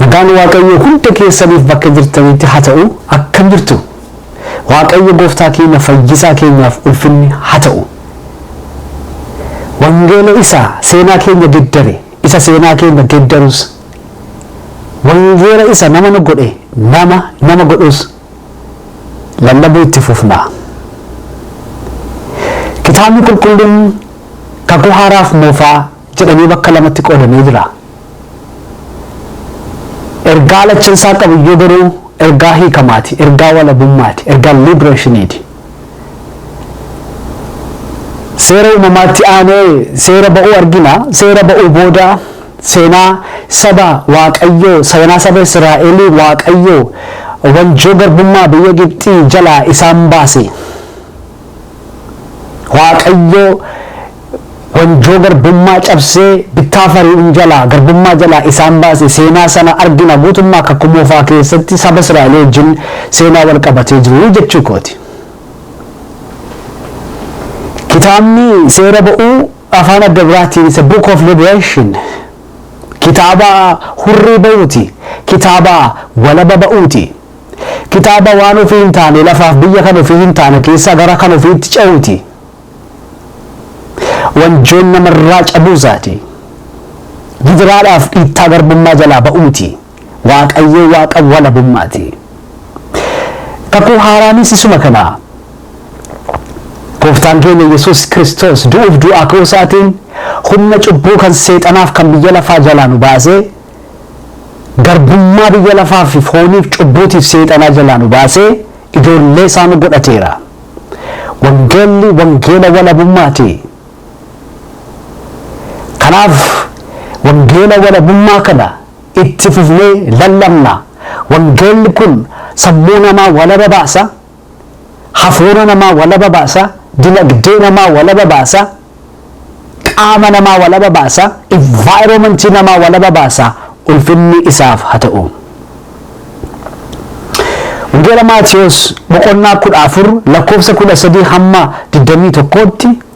Nagaan waaqayyoo hunda keessaniif bakka jirtanitti ha ta'u akkam jirtu waaqayyo gooftaa keenya fayyisaa keenyaaf ulfinni ha ta'u wangeela isaa seenaa keenya geddare isa seenaa keenya geddarus wangeela isa nama nu godhe nama nama godhus lallabuu itti fufna kitaabni qulqulluun kakuu haaraaf moofaa jedhamee bakka lamatti qoodamee jira. Ergaa lachansaa qabiyyuu garuu ergaa hiikamaati, ergaa walabummaati, ergaa libreeshiniiti. Seera uumamaatti aanee seera ba'uu argina. Seera ba'uu booda seenaa saba Waaqayyoo, seenaa saba Israa'elii Waaqayyoo wanjoo garbummaa biyya Gibxii jalaa isaan baase. Waaqayyoo wanjoo garbummaa cabsee bittaa fari'uun jalaa garbummaa jalaa isaan baase seenaa sana argina guutummaa kakuu moofaa keessatti saba Israa'el wajjin seenaa wal qabatee jiru jechuu kooti. Kitaabni seera ba'uu afaan adda biraatiin isa book of liberation kitaaba hurrii ba'uuti kitaaba walaba ba'uuti. Kitaaba waan ofii hin taane, lafaaf biyya kan ofii hin taane keessaa gara kan ofiitti ce'uuti. Wanjoon nama irraa cabuu isaati. Gidiraadhaaf dhiittaa garbummaa jalaa ba'u miti. Waaqayyoo Waaqa walabummaati. Kakuu haaraanis isuma kana. Gooftaan keenya Yesuus Kiristoos du'uuf du'aa ka'uu isaatiin humna cubbuu kan seexanaaf kan biyya lafaa jalaa nu baasee Garbummaa biyya lafaa fi fooniif cubbuutiif seexanaa jalaa nu baasee ijoollee isaa nu godhateera. Wangeelli wangeela walabummaati. Kanaaf wangeela walabummaa kana itti fufnee lallabna. Wangeelli kun sammuu namaa walaba baasa. hafuura namaa walaba baasa, dinagdee namaa walaba baasa, qaama namaa walaba baasa, environment namaa walaba baasa, ulfinni isaaf ha ta'u. Wangeela Maatiyos boqonnaa kudha afur lakkoofsa kudha sadii hamma digdamii tokkootti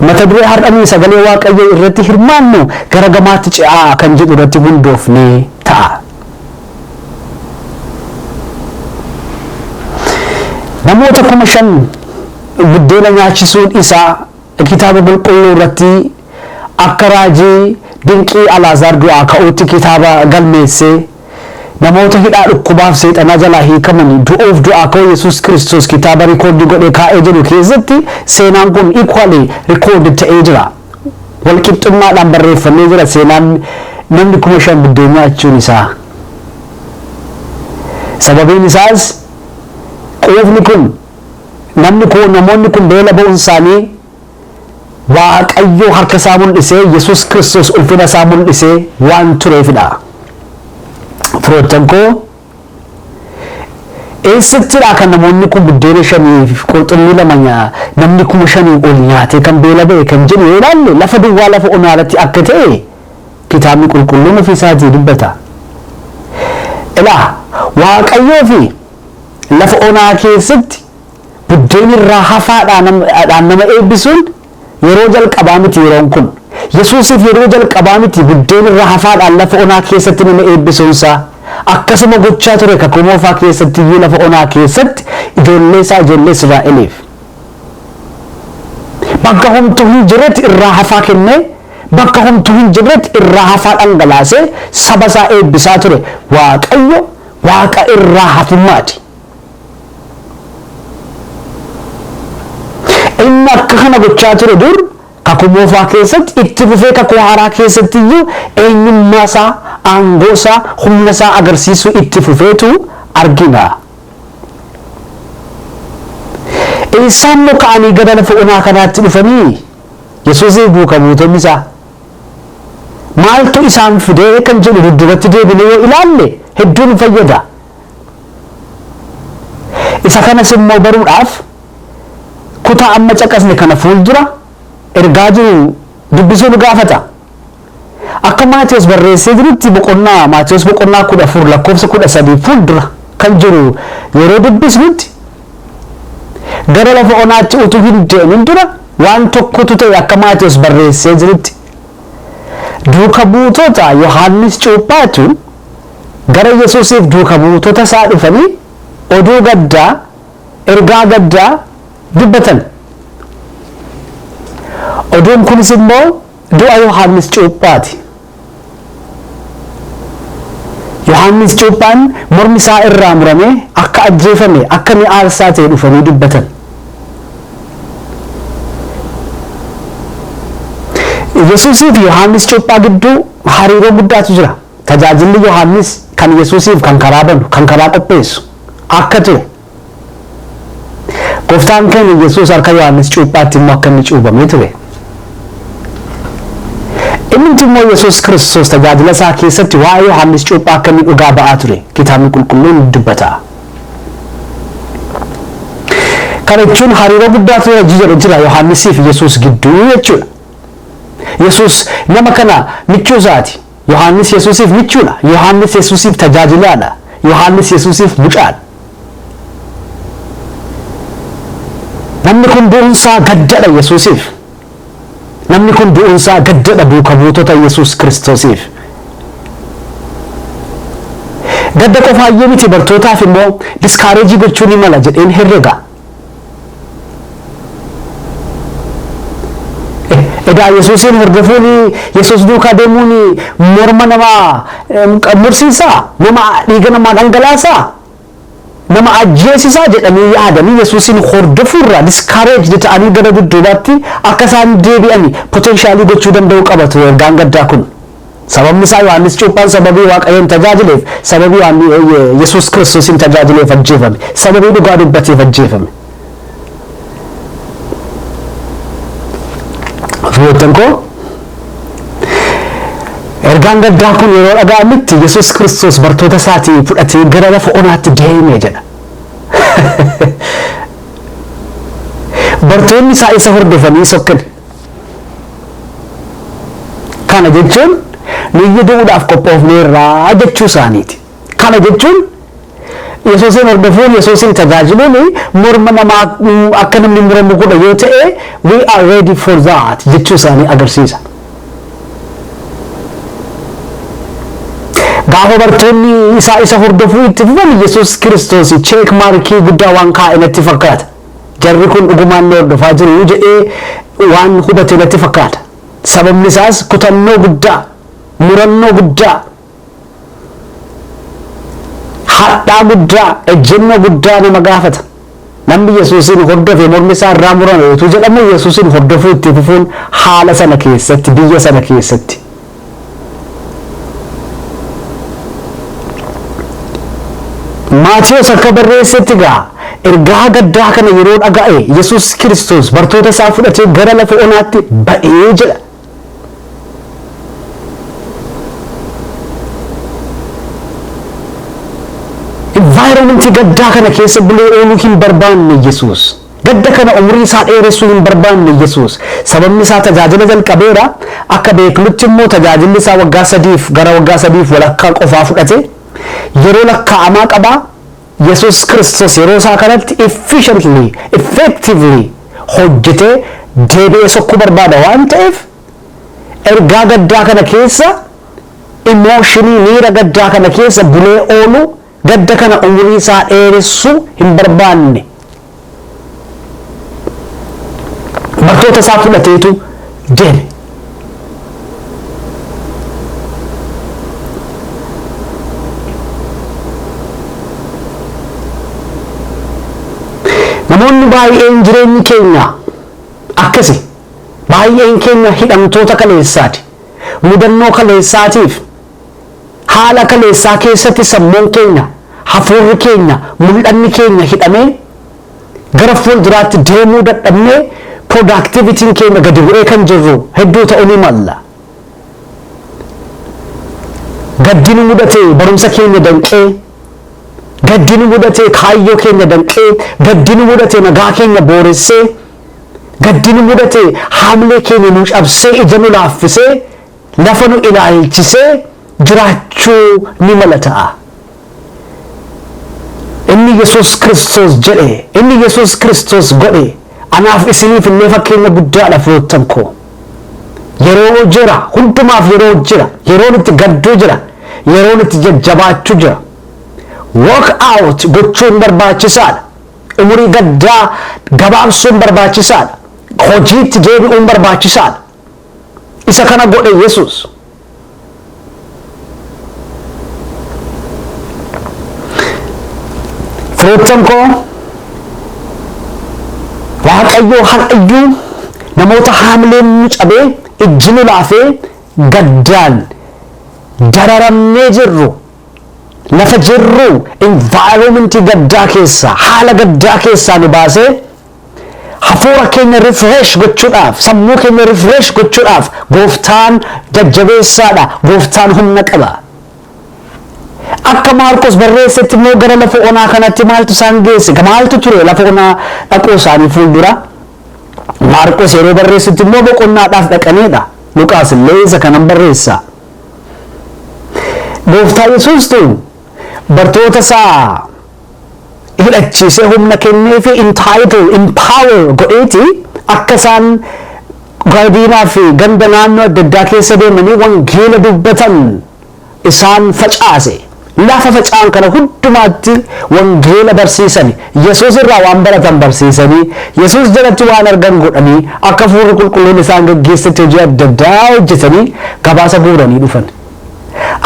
Mata duree har'a nuyi sagalee Waaqayyoo irratti hirmaannu gara gamaatti ce'aa kan jedhu irratti hundoofnee ta'a. Namoota kuma shan buddeena nyaachisuun isaa kitaaba qulqulluu irratti akka raajii dinqii Alaazaar du'aa ka'uutti kitaaba galmeessee Namoota hidhaa dhukkubaaf seexanaa jalaa hiikamani du'uuf du'aa ka'uu Yesuus Kiristoos kitaaba rikoordii godhee kaa'ee jedhu keessatti seenaan kun equally recorded ta'ee jira. Wal qixxummaadhaan barreeffamee jira seenaan namni kuma shan buddeen nyaachuun isaa. Sababiin isaas quufni kun namni kun namoonni kun beela ba'uun isaanii Waaqayyo harka isaa mul'isee Yesuus Kiristoos ulfina isaa mul'isee waan tureefidha. Firoottan koo eessattidha kan namoonni kun buddeena shanii fi qurxummii lama nyaa namni kuma shanii ol nyaatee kan beela ba'e kan jedhu yoo ilaalle lafa duwwaa lafa onaa irratti akka ta'e kitaabni qulqulluun ofii isaatii dubbata. Ilaa waaqayyoo fi lafa onaa keessatti Buddeena irraa hafaa dhaan nama eebbisuun yeroo jalqabaa miti yeroon kun. Yesuusiif yeroo jalqabaa miti buddeena irraa hafaa dhaan lafa onaa keessatti nama eebbisuun isaa. Akkasuma gochaa ture Kakuu Moofaa keessatti iyyuu lafa onaa keessatti ijoollee isaa ijoollee Israa'eliif. Bakka homtuu hin jirretti irraa hafaa kennee bakka homtuu hin jirretti irraa hafaa dhangalaasee saba isaa eebbisaa ture. Waaqayyo Waaqa irraa hafummaa ti. Inni akka kana gochaa ture dur Kakuu Moofaa keessatti, itti fufee Kakuu Haaraa keessatti iyyuu eenyummaa isaa, aangoo isaa, humna isaa agarsiisuu itti fufeetu argina. Eessaa immoo ka'anii gara lafa onaa kanaatti dhufanii? Yesuusii fi duuka buutonni isaa. Maaltu isaan fide kan jedhu dudduubatti deebinee yoo ilaalle hedduu nu fayyada. Isa kanas immoo baruudhaaf kutaa amma caqasne kana fuuldura ergaa jiru dubbisuu nu gaafata. Akka Maatewos barreessee jirutti boqonnaa Maatewos boqonnaa 14 lakkoofsa 13 fuuldura kan jiru yeroo dubbisnutti gara lafa onaatti utuu hin deemin dura waan tokkotu ta'e akka Maatewos barreessee jirutti. Duuka buutota Yohaannis Cuuphaatu Gara Yesuusiif duuka buutota isaa dhufanii oduu gaddaa, ergaa gaddaa dubbatan. Oduun kunis immoo du'a Yohaannis Cuuphaati. Yohaannis Cuuphaan mormi isaa irraa muramee akka ajjeefame, akka inni aarsaa ta'e dhufanii dubbatan. Yesuusii fi Yohaannis Cuuphaa gidduu hariiroo guddaatu jira. Tajaajilli Yohaannis kan Yesuusiif kan karaa banu, kan karaa qopheessu akka ture, Gooftaan keenya Yesuus harka Yohaannis cuuphaatti immoo akka inni cuubamee ture. Innumti immoo Yesuus Kiristoos tajaajila isaa keessatti waa'ee Yohaannis cuuphaa akka inni dhugaa ba'aa ture kitaabni qulqulluun dubbata. Kana jechuun hariiroo guddaa ture hojii jedhu jira Yohaannisii fi Yesuus gidduu jechuudha. Yesuus nama kana michuu isaati. Yohaannis Yesuusiif michuudha. Yohaannis Yesuusiif tajaajilaadha. Yohaannis Yesuusiif mucaadha. Namni kun du'unsaa gaddadha Yesuusiif. Namni kun du'unsaa gaddadha duuka buutota Yesuus Kiristoosiif. Gadda qofaayyuu miti bartootaaf immoo diskaareejii gochuu ni mala jedheen herrega. Egaa Yesuusiin hordofuun Yesuus duukaa deemuun morma namaa mursiisaa? Nama dhiiga namaa dhangalaasaa? Nama ajjeesisaa jedhanii yaadanii Yesuusiin hordofuurraa discouraged ta'anii gara dudduubaatti akka isaan deebi'an potentially gochuu danda'uu qaba ture ergaan gaddaa kun. Sababni isaa Yohaannis Cuuphaan sababii Waaqayyoon tajaajileef, sababii Yesuus Kiristoosiin tajaajileef ajjeefame. Sababii dhugaa dubbateef ajjeefame. Firoottan koo ergaan gaddaa kun yeroo dhaga'amutti Yesuus Kiristoos bartoota isaatii fudhatee gara lafa onaatti deeme jedha. Bartoonni isaa isa hordofanii sokkan. Kana jechuun nuyyu du'uudhaaf qophoofneerra jechuu isaaniiti. Kana jechuun Yesuusiin hordofuun, Yesuusiin tajaajiluun morma namaa akka namni muramu godha yoo ta'e, we are ready for that jechuu isaanii agarsiisa. Gaafa bartoonni isaa isa hordofuu itti fufan Yesuus Kiristoos cheek maarkii guddaa waan kaa'e natti fakkaata. Jarri kun dhugumaan na hordofaa jiru jedhee waan hubate natti fakkaata. Sababni isaas kutannoo guddaa, murannoo guddaa, hadhaa guddaa, ejjennoo guddaa nama gaafata. Namni Yesuusiin hordofe mormi isaa irraa murame utuu jedhamu Yesuusiin hordofuu itti fufuun haala sana keessatti, biyya sana keessatti Maatiyos akka barreessetti egaa ergaa gaddaa kana yeroo dhaga'e Yesuus Kiristoos bartoota isaa fudhatee gara lafa onaatti ba'ee jedha. Envaayiroomentii gaddaa kana keessa bulee ooluu hin barbaanne Yesuus. Gadda kana umurii isaa dheeressuu hin barbaanne Yesuus. Sababni isaa tajaajila jalqabeera, akka beeknutti immoo tajaajilli isaa waggaa sadiif gara waggaa sadiif walakkaa qofaa fudhate. Yeroo lakkaa'amaa qaba. Yesuus Kiristoos yeroo isaa kanatti efficiently, effectively hojjetee deebi'ee sokkuu barbaada waan ta'eef ergaa gaddaa kana keessa, emotionii, miira gaddaa kana keessa bulee ooluu, Gadda kana umurii isaa dheeressu hin barbaanne. Bartoota isaa fudhateetu deeme. Namoonni baay'een jireenyi keenya akkasi. Baay'een keenya hidhamtoota kaleessaati. Mudannoo kaleessaatiif. Haala kaleessaa keessatti sammuun keenya, hafuurri keenya, mul'anni keenya hidhamee gara fuulduraatti deemuu dadhabnee productivity'n keenya gadi bu'ee kan jirru hedduu ta'uu ni malla. Gaddi nu mudate barumsa keenya danqee, gaddi nu mudate kaayyoo keenya danqee, gaddi nu mudate nagaa keenya booressee, gaddi nu mudate haamlee keenya nu cabsee ija nu laaffisee, lafa nu ilaalchisee jiraachuu ni mala ta'a. Inni Yesuus Kiristoos jedhe, inni Yesuus Kiristoos godhe anaaf isiniif illee fakkeenya guddaadha firoottan koo. Yeroo jira, hundumaaf yeroo jira, yeroon itti gadduu jira, yeroon itti jajjabaachuu jira. Walk out gochuun barbaachisaadha. Umurii gaddaa gabaabsuun barbaachisaadha. Hojiitti deebi'uun barbaachisaadha. Isa kana godhe Yesuus. Firoottan koo Waaqayyoo har'ayyuu namoota haamileen nu cabee ijji nu laafee gaddaan dararamnee jirru lafa jirru environment gaddaa keessaa haala gaddaa keessaa nu baasee Hafuura keenya refresh gochuudhaaf, sammuu keenya refresh gochuudhaaf gooftaan jajjabeessaadha, gooftaan humna qaba. Akka Maarqos barreessetti immoo gara lafa onaa kanatti maaltu isaan geesse? Maaltu ture lafa onaa dhaquu isaanii fuuldura? Maarqos yeroo barreessutti immoo boqonnaadhaaf dhaqaniidha. Luqaas illee isa kanan barreessa. Gooftaa Yesuustu bartoota isaa hidhachiisee humna kenneefi entitle, empower godheeti akka isaan Gadiinaa fi ganda naannoo adda addaa keessa deemanii wangeela dubbatan isaan facaase. Lafa faca'an kana hundumaatti wangeela barsiisani. Yesuus irraa waan baratan barsiisanii, Yesuus jalatti waan argan godhanii, akka Hafuurri Qulqulluun isaan geggeessetti hojii adda addaa hojjetanii gabaasa guuranii dhufan.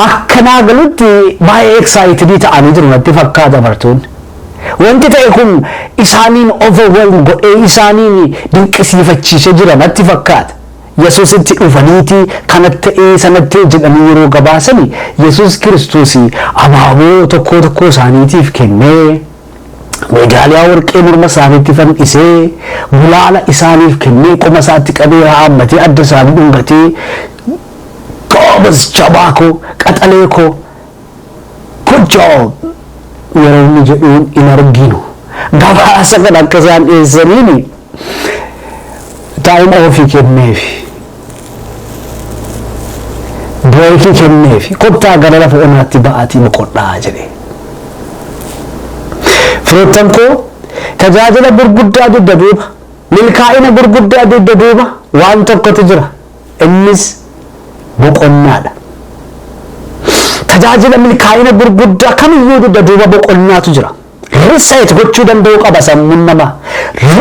Akka naa galutti baay'ee excited ta'anii jiru natti fakkaata bartoonni. Wanti ta'e kun isaaniin overwhelm godhee isaaniin dinqisiifachiisee jira natti fakkaata. Yesuusitti dhufaniiti kanat ta'ee sanat ta'e jedhanii yeroo gabaasani Yesuus Kiristoos abaaboo tokkoo tokkoo isaaniitiif kennee, meedaaliyaa warqee morma isaaniitti fandhisee, gulaala isaaniif kennee, qoma isaatti qabee haammatee adda isaanii dhungatee, Goobaz jabaa koo qaxalee koo good job. Yeroo inni jedhuun hin arginu gabaasa kana akka isaan dhiyeessaniin time ofi kenneefi breeki kenneefi kottaa gara lafa onaatti ba'aatii boqodhaa jedhe. Firoottan koo tajaajila gurguddaa dugda duuba milkaa'ina gurguddaa dugda duuba waan tokkotu jira. Innis boqonnaa dha. Tajaajila milkaa'ina gurguddaa kamiyyuu dugda duuba boqonnaatu jira. Reset gochuu danda'uu qaba sammuun namaa.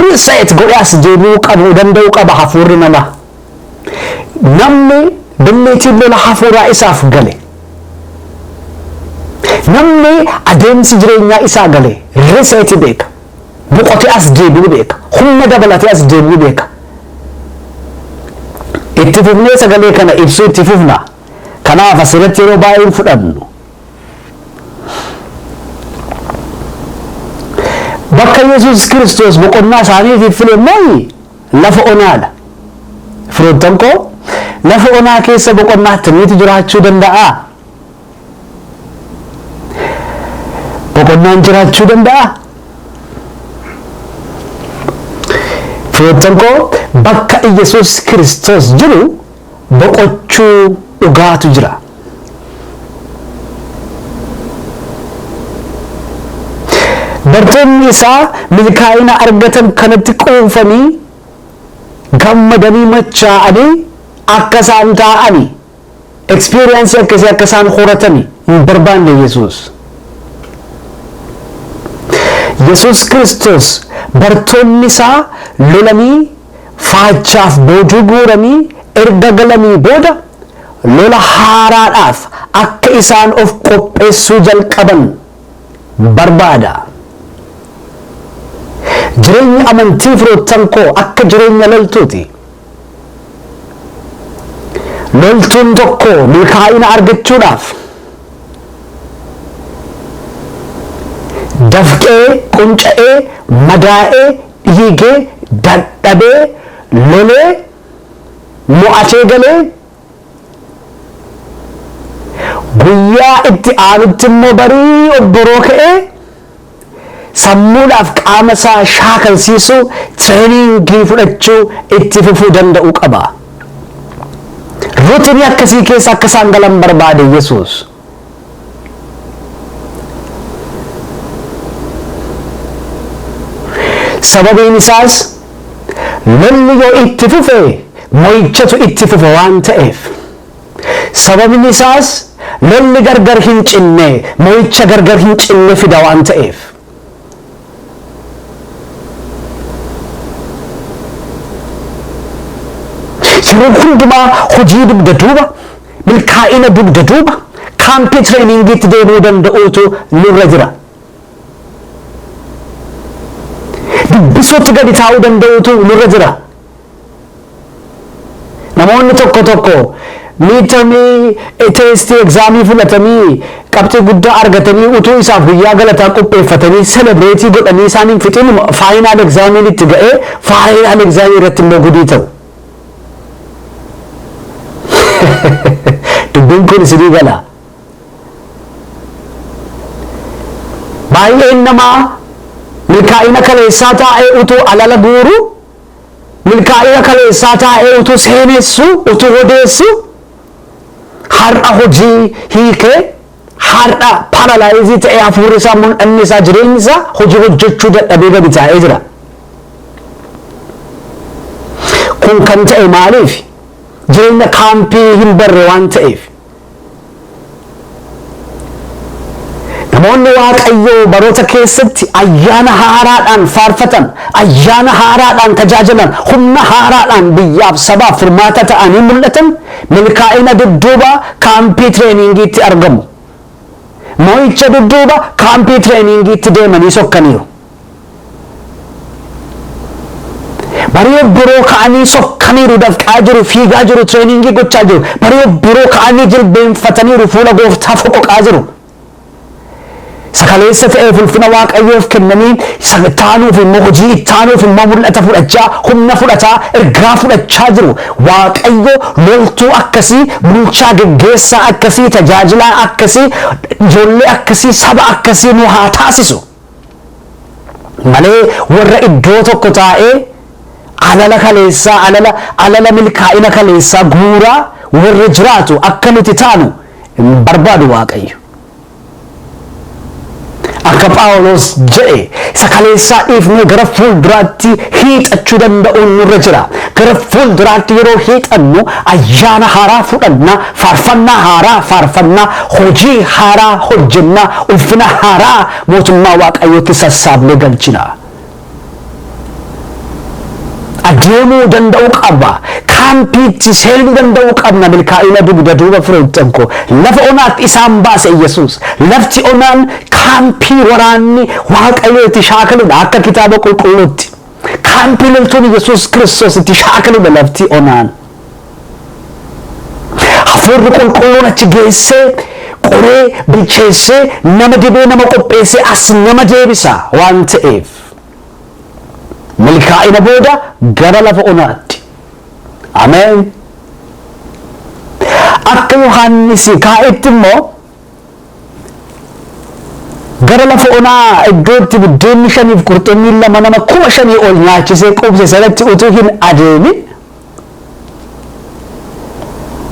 Reset godhee as deebi'uu qabu danda'uu qaba hafuurri namaa. Namni billiitiin lola hafuuraa isaaf gale. Namni adeemsi jireenyaa isaa gale reset beeka. boqotee as deebi'uu beeka. Humna dabalatee as deebi'uu beeka. Itti fufnee sagalee kana ibsuu itti fufna. Kanaaf asirratti yeroo baay'ee hin fudhannu. Bakka Yesuus Kiristoos boqonnaa isaaniitiif file immoo lafa onaadha. Firoottan koo lafa onaa keessa boqonnaa akkamiitu jiraachuu danda'a? boqonnaan jiraachuu danda'a. Firoottan koo bakka Iyyasuus Kiristoos jiru boqochuu dhugaatu jira. Bartoonni isaa milkaa'ina argatan kanatti quufanii gammadanii machaa'anii akka isaan taa'ani Experience akkasii akka isaan horatani hin barbaanne Yesuus. Yesuus Kiristoos bartoonni isaa lolanii faachaaf boojuu guuranii erga galanii booda lola haaraadhaaf akka isaan of qopheessuu jalqaban barbaada. Jireenyi amantii firoottan koo akka jireenya loltuuti. Loltuun tokko milkaa'ina argachuudhaaf dafqee, qunca'ee, madaa'ee, dhiigee, dadhabee, lolee, mo'atee galee guyyaa itti aanutti immoo barii obboroo ka'ee sammuudhaaf qaama isaa shaakalsiisu tireeniingii fudhachuu itti fufuu danda'uu qaba. Rutinii akkasii keessa akka isaan galan barbaade Yesuus. Sababiin isaas lolli yoo itti fufe mo'ichatu itti fufa waan ta'eef. Sababni isaas lolli gargar hin cinne mo'icha gargar hin cinne fida waan ta'eef. Yeroo hundumaa hojii dugda duuba, milkaa'ina dugda duuba, kaampii tireeningiitti deebi'uu danda'uutu nurra jira. Dubbisuutti gadi taa'uu danda'uutu nurra jira. Namoonni tokko tokko miidtamii teestii egzaamii fudhatanii qabxii guddaa argatanii utuu isaaf guyyaa galataa qopheeffatanii selebireetii godhanii isaan hin fixinuma faayinaal egzaamiin itti ga'ee faayinaal egzaamii irratti immoo gudii ta'u. Dubbiin kun isinii gala. Baay'een namaa milkaa'ina kaleessaa taa'ee utuu alala guuru Milkaa'ina kaleessaa taa'ee utuu seenessuu, utuu odeessuu har'a hojii hiikee, har'a paralyze ta'ee hafuurri isaa, mul'anni isaa, jireenyi isaa hojii hojjechuu dadhabee gadi taa'ee jira. Kun kan ta'e maaliifi? Jireenya kaampii hin barre waan ta'eef. Namoonni Waaqayyoo baroota keessatti ayyaana haaraadhaan faarfatan, ayyaana haaraadhaan tajaajilan, humna haaraadhaan biyyaaf sabaaf furmaata ta'anii mul'atan milkaa'ina dudduuba kaampii tireeniingiitti argamu. Mo'icha dudduuba kaampii tireeniingiitti deemanii sokkaniiru. Barii obboroo ka'anii sokkaniiru dafqaa jiru fiigaa jiru tireeningii gochaa jiru barii obboroo ka'anii jilbeenfataniiru fuula gooftaa foqoqaa jiru isa kaleessa ta'eef ulfina waaqayyoof kennanii isa ittaanuuf immoo hojii ittaanuuf immoo mul'ata fudhachaa humna fudhataa ergaa fudhachaa jiru waaqayyo loltuu akkasii bulchaa geggeessaa akkasii tajaajilaa akkasii ijoollee akkasii saba akkasii nu haa taasisu. malee warra iddoo tokko taa'ee alala kaleessaa alala alala milkaa'ina kaleessaa guuraa warra jiraatu akka nuti taanu hin barbaadu waaqayyo. Akka Phaawulos jedhe isa kaleessaa dhiifnee gara fuulduraatti hiixachuu danda'uun nurra jira. Gara fuulduraatti yeroo hiixannu ayyaana haaraa fudhanna Faarfannaa haaraa faarfannaa, hojii haaraa hojjenna, ulfina haaraa mootummaa Waaqayyootti sassaabnee galchina. Adeemuu danda'uu qaba. Kaampiitti seenuu danda'uu qabna. Milkaa'ina dugda duuba firoottan koo. Lafa onaatti isaan baase Yesuus. Lafti onaan kaampii waraanni Waaqayyoo itti shaakaludha akka kitaaba qulqulluutti. Kaampii loltoonni Yesuus Kiristoos itti shaakaluudha lafti onaan. Hafuurri qulqulluun achi geessee, qoree, bilcheessee, nama dibee, nama qopheessee as nama deebisa waan ta'eef. Milkaa'ina booda gara lafa onaatti. Ameen. Akka Yohaannisi kaa'etti immoo Gara lafa onaa iddoo itti buddeenni shaniif qurxummiin lama nama kuma shanii ol nyaachisee quubse sanatti utuu hin adeemin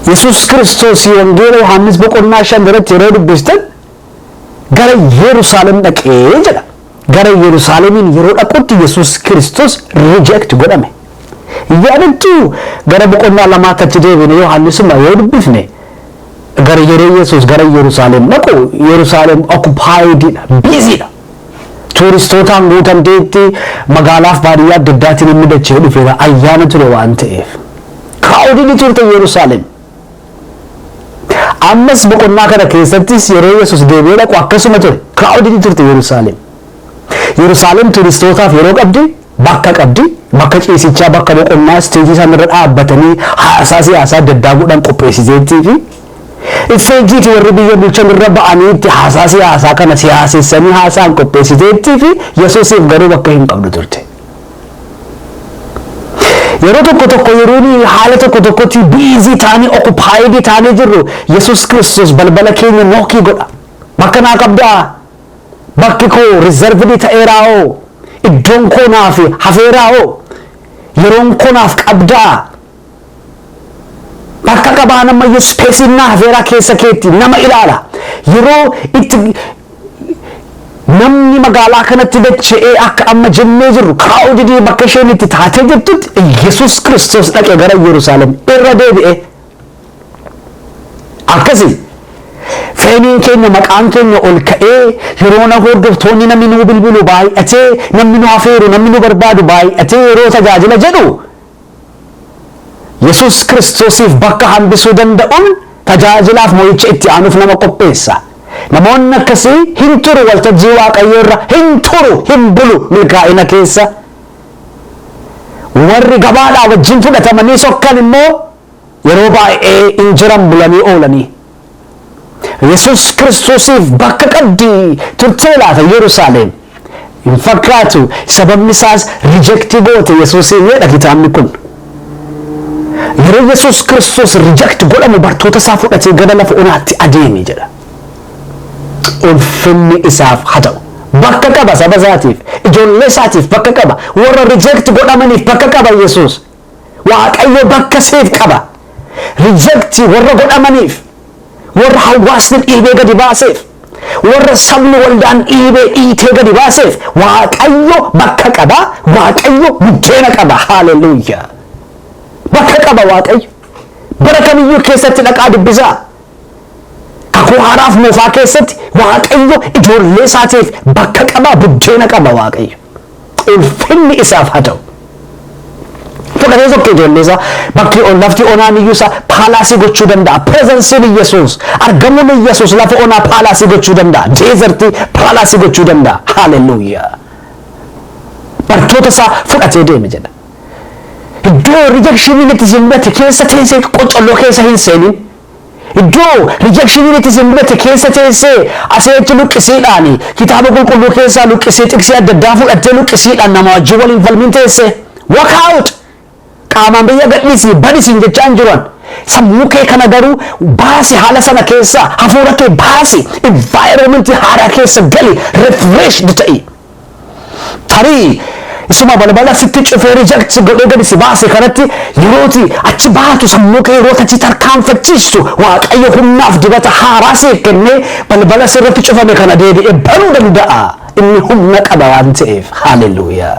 Yesuus Kiristoos Wangeela Yohaannis boqonnaa shan irratti yeroo dubbistan gara Yerusaalem dhaqee jedha. Gara Yerusaalemiin yeroo dhaqutti Yesuus Kiristoos reject godhame. Yaadattuu? Gara boqonnaa lamaatti achi deebine Yohaannisuma yoo dubbifne gara yeroo Yesuus gara Yerusaalem dhaqu Yerusaalem occupied dha, busy dha. Tuuristootaan guutamteetti magaalaaf baadiyyaa adda addaatiin inni dacha'ee dhufeera ayyaana ture waan ta'eef. Crowded turte Yerusaalem. Ammas boqonnaa kana keessattis yeroo Yesus deebi'ee dhaqu akkasuma ture. Kiraawudidii turte Yerusaalem. Yerusaalem turistootaaf yeroo qabdi, bakka qabdi, bakka ciisichaa, bakka boqonnaa, isteejii isaan irra dhaabbatanii haasaa siyaasaa adda addaa godhan qopheessiteettii fi isteejiiti warri biyya bulchan irra ba'anii itti haasaa siyaasaa kana siyaasessanii haasaan qopheessiteettii fi Yesusiif garuu bakka hin qabdu turte. Yeroo tokko tokko yeroo nuyi haala tokko tokkotti biizii taanee okupaayidii taanee jirru Yesuus Kiristoos balbala keenya nookii godha. Bakka naa qabdaa? Bakki koo rizarvidii ta'eeraa hoo? Iddoon koo naaf hafeeraa hoo? Yeroon koo naaf qabdaa? Bakka qabaan ammayyuu ispeesiin naa hafeeraa keessa keetti nama ilaala. Yeroo itti namni magaalaa kanatti dacha'ee akka amma jennee jirru kaa'uu didee bakka isheen itti taatee jirtutti Iyyasuus Kiristoos dhaqe gara Yerusaalem irra deebi'e. Akkasi feeniin keenya maqaan keenya ol ka'ee yeroo na hordoftoonni namni nu bilbilu baay'atee namni nu hafeeru namni nu barbaadu baay'atee yeroo tajaajila jedhu Yesus Kiristoosiif bakka hambisuu danda'uun tajaajilaaf mo'icha itti aanuuf nama qopheessa. Namoonni akkasii hin turu waltajjii Waaqayyoo irra, hin turu, hin bulu milkaa'ina keessa. Warri gabaadhaa wajjin fudhatamanii sokkan immoo Yeroo baay'ee in jiran bulanii oolanii. Yesuus Kiristoosiif bakka qabdi turtee laata Yerusaaleem? Hin fakkaatu sababni isaas reject goote Yesuusiin jedha kitaabni kun. Yeroo Yesuus Kiristoos reject godhamu bartoota isaa fudhatee gara lafa onaatti adeeme jedha. Ulfinni isaaf haa ta'u. Bakka qaba saba isaatiif, ijoollee isaatiif bakka qaba, warra reject godhamaniif bakka qaba Yesuus. Waaqayyo bakka siif qaba. Reject warra godhamaniif, warra hawwaasni dhiibee gadi baaseef, warra sabni waldaan dhiibee dhiitee gadi baaseef Waaqayyo bakka qaba, Waaqayyo buddeena qaba. Haaleluyyaa! Bakka qaba Waaqayyo. Bara kamiyyuu keessatti dhaqaa dubbisaa. Kakuu haaraaf moofaa keessatti Waaqayyo ijoollee isaatiif bakka qaba, buddeena qaba Waaqayyo. Ulfinni isaaf haa ta'u. Fudhatee sokke ijoollee isaa bakki on- lafti onaan iyyuu isaa paalaasii gochuu danda'a. Pirezensiin Iyyasuus, argamuun Iyyasuus lafa onaa paalaasii gochuu danda'a. Deezertii paalaasii gochuu danda'a. Haaleluyyaa! Bartoota isaa fudhatee deeme jedha. Iddoo rejectioniin itti si mudate keessa teessee qocolloo keessa hin seenin. Iddoo rijakshiniin itti si mudate keessa teessee asii achi luqqisiidhaan Kitaaba Qulqulluu keessaa luqqisii xiqsii adda addaa fudhattee luqqisiidhaan namaa wajjin wal hin falmin teessee. Walk out! Qaamaan biyya gadhiisii badi siin jechaa hin jiru ani. Sammuu kee kana garuu baasi haala sana keessaa, hafuura kee baasi, environment haaraa keessa gali, refreshed ta'i. Tarii isuma balbala sitti cufee reject si godhee gadi si baase kanatti yerooti achi baatu sammuu kee yeroota achi tarkaanfachiistu Waaqayyo humnaaf dibata haaraa siif kennee balbala sirratti cufame kana deebi'ee banuu danda'a. Inni humna qaba waan ta'eef. Haaleluyyaa!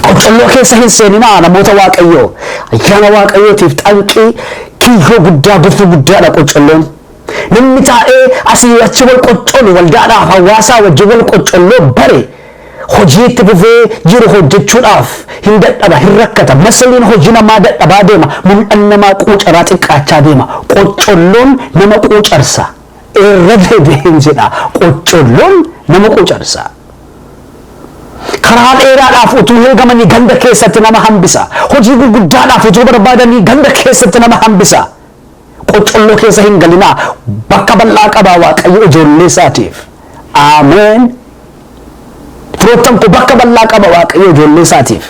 Qoccolloo keessa hin seeninaa namoota Waaqayyoo. Ayyaana Waaqayyootiif xanqii kiyyoo guddaa gufuu guddaadha qoccolloon. Namni taa'ee asii achi wal qoccolu waldaadhaaf hawaasaa wajjin wal qoccolloo bare hojii itti fufee jiru hojjechuudhaaf hin dadhaba, hin rakkata. Masiliin hojii namaa dadhabaa deema, mul'anni namaa quucaraa xiqqaachaa deema. Qoccolloon nama quucarsa. Irra deebi'een jedha, qoccolloon nama quucarsa. Karaa dheeraadhaaf utuu heegamanii ganda keessatti nama hambisa. Hojii gurguddaadhaaf utuu barbaadanii ganda keessatti nama hambisa. Qoccolloo keessa hin galinaa bakka bal'aa qabaa waaqayyo ijoollee isaatiif. Ameen. Firoottan koo bakka bal'aa qaba waaqayyo ijoollee isaatiif.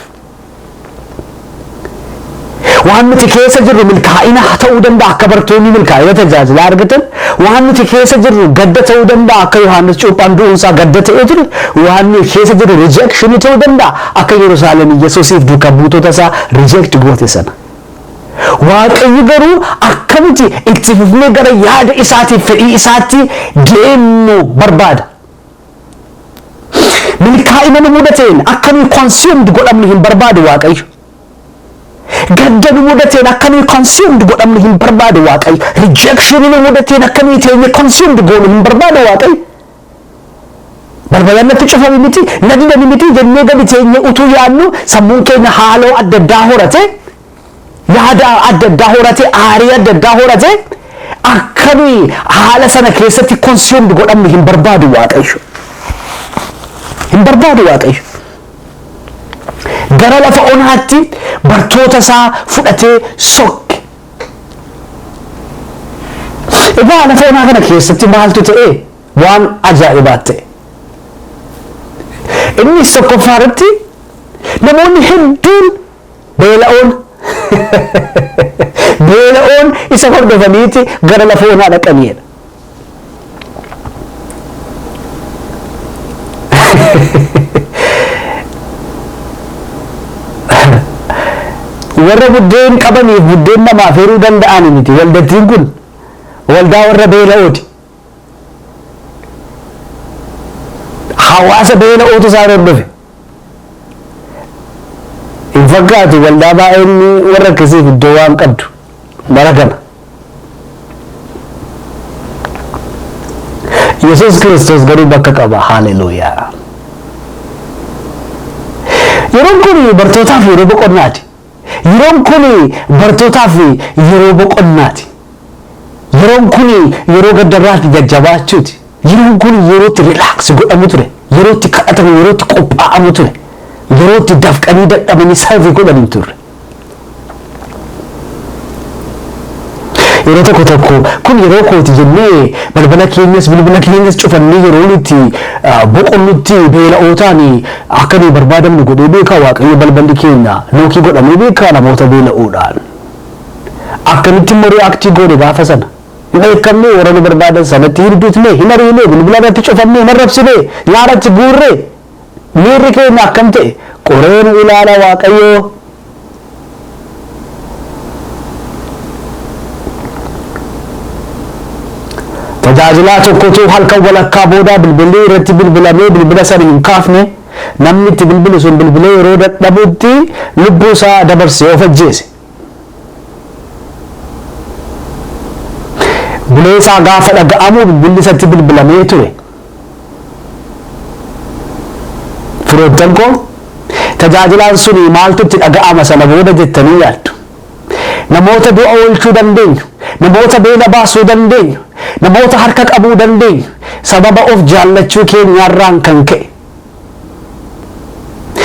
Waan nuti keessa jirru milkaa'ina ta'uu danda'a akka bartoonni milkaa'ina tajaajilaa argatan waan nuti keessa jirru gadda ta'uu danda'a akka Yohaannis cuuphaan du'uunsaa gadda ta'ee ture waan nuti keessa jirru rijeekshinii ta'uu danda'a akka Yerusaalem Yesuusiif duuka buutota isaa rijeekti goote sana. Waaqayyo garuu akkamitti itti fufnee gara yaada isaatiif fedhii isaatti deemnu barbaada. Milkaa'ina nu mudateen akka nuyi consumed godhamnu hin barbaadu Waaqayyo. Gadda nu mudateen akka nuyi consumed godhamnu hin barbaadu Waaqayyo. Rejection nu mudateen akka nuyi teenye consumed goonu hin barbaadu Waaqayyo. Balbalan natti cufame miti, na didani miti jennee gadi teenyee utuu yaadnu sammuun keenya haaloo adda addaa horate, yaada adda addaa horate, aarii adda addaa horate akka nuyi haala sana keessatti consumed godhamnu hin barbaadu Waaqayyo. Hin barbaadu Waaqayyo. Gara lafa onaatti bartoota isaa fudhatee sokke. Egaa haala foonaa kana keessatti maaltu ta'e waan ajaa'ibaa ta'e. Innis tokkoffaa irratti namoonni hedduun beela'oon beela'oon isa hordofaniiti gara lafa onaa dhaqaniidha. warra buddeen qabaniif buddeen namaaf hiruu danda'an miti waldattiin kun waldaa warra beela'ooti hawaasa beela'ootu isaan hordofe hin fakkaatu waldaa baay'een warra akkasiif iddoo waan qabdu bara kana Yesuus Kiristoos garuu bakka qaba. Haaleluuyaa! Yeroon kun bartootaaf yeroo boqonnaati. Yeroon kun bartootaaf yeroo boqonnaati. Yeroon kun yeroo gaddarraatti jajjabaachuuti. Yeroon kun yeroo itti rilaaks godhamu ture. Yeroo itti kadhatamu, yeroo itti qophaa'amu ture. Yeroo itti dafqanii dadhabanii sarvii godhan hin turre. yeroo tokko tokko kun yeroo kooti jennee balbala keenyas bilbila keenyas cufannee yeroo nuti boqonnutti beela'ootaan akka nuyi barbaadamnu godhee beekaa waaqayyo balballi keenya lookii godhamee beekaa namoota beela'oodhaan. Akkamitti immoo riyaaktii goone gaafa sana? Hin dheekkamnee warra nu barbaadan sanatti hin dutne hin ariine bilbila irratti cufannee hin arrabsine nyaara itti guurree Miirri keenya akkam ta'e qoree nu ilaala Waaqayyoo. Tajaajilaa tokkotu halkan walakkaa booda bilbilli irratti bilbilamee bilbila sana hin kaafne, namni itti bilbile sun bilbilee yeroo dadhabutti lubbuu isaa dabarsee of ajjeese. Buleesaa gaafa dhaga'amu bilbilli isatti bilbilamee ture. Firoottan koo tajaajilaan suni maaltu itti dhaga'ama sana booda jettanii yaaddu. Namoota du'a oolchuu dandeenyu, namoota beela baasuu dandeenyu, namoota harka qabuu dandeenyu sababa of jaallachuu keenyaarraan kan ka'e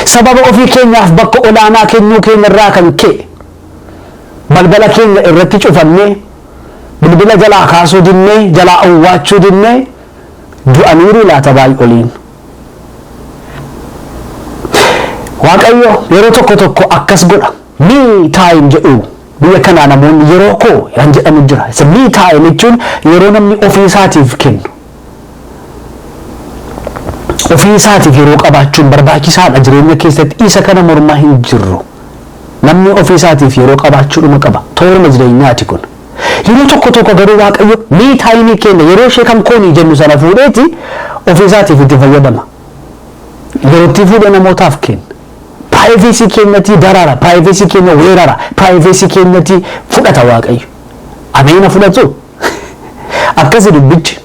Sababa ofii keenyaaf bakka olaanaa kennuu keenya irraa kan ka'e balbala keenya irratti cufannee, bilbila jalaa kaasuu dinnee, jalaa owwaachuu dinnee du'aniiruu laata baay'oliin? Waaqayyo yeroo tokko tokko akkas godha. Me time jedhu biyya kanaa namoonni yeroo koo kan jedhamu jira. Isa me time jechuun yeroo namni ofii isaatiif kennu. Ofii isaatiif yeroo qabaachuun barbaachisaa dha, jireenya keessatti isa kana mormaa hin jirru. Namni ofii isaatiif yeroo qabaachuu dhuma qaba. Tooruma jireenyaa ti kun. Yeroo tokko tokko garuu Waaqayyo me time keenya yeroo ishee kan koonii jennu sana fuudhee ti ofii isaatiif itti fayyadama. Yeroo itti fuudhee namootaaf kenna. Privacy keenya ti darara, privacy keenya weerara, privacy keenya ti fudhata Waaqayyo. Ameena fudhatu? Akkasi dubbichi.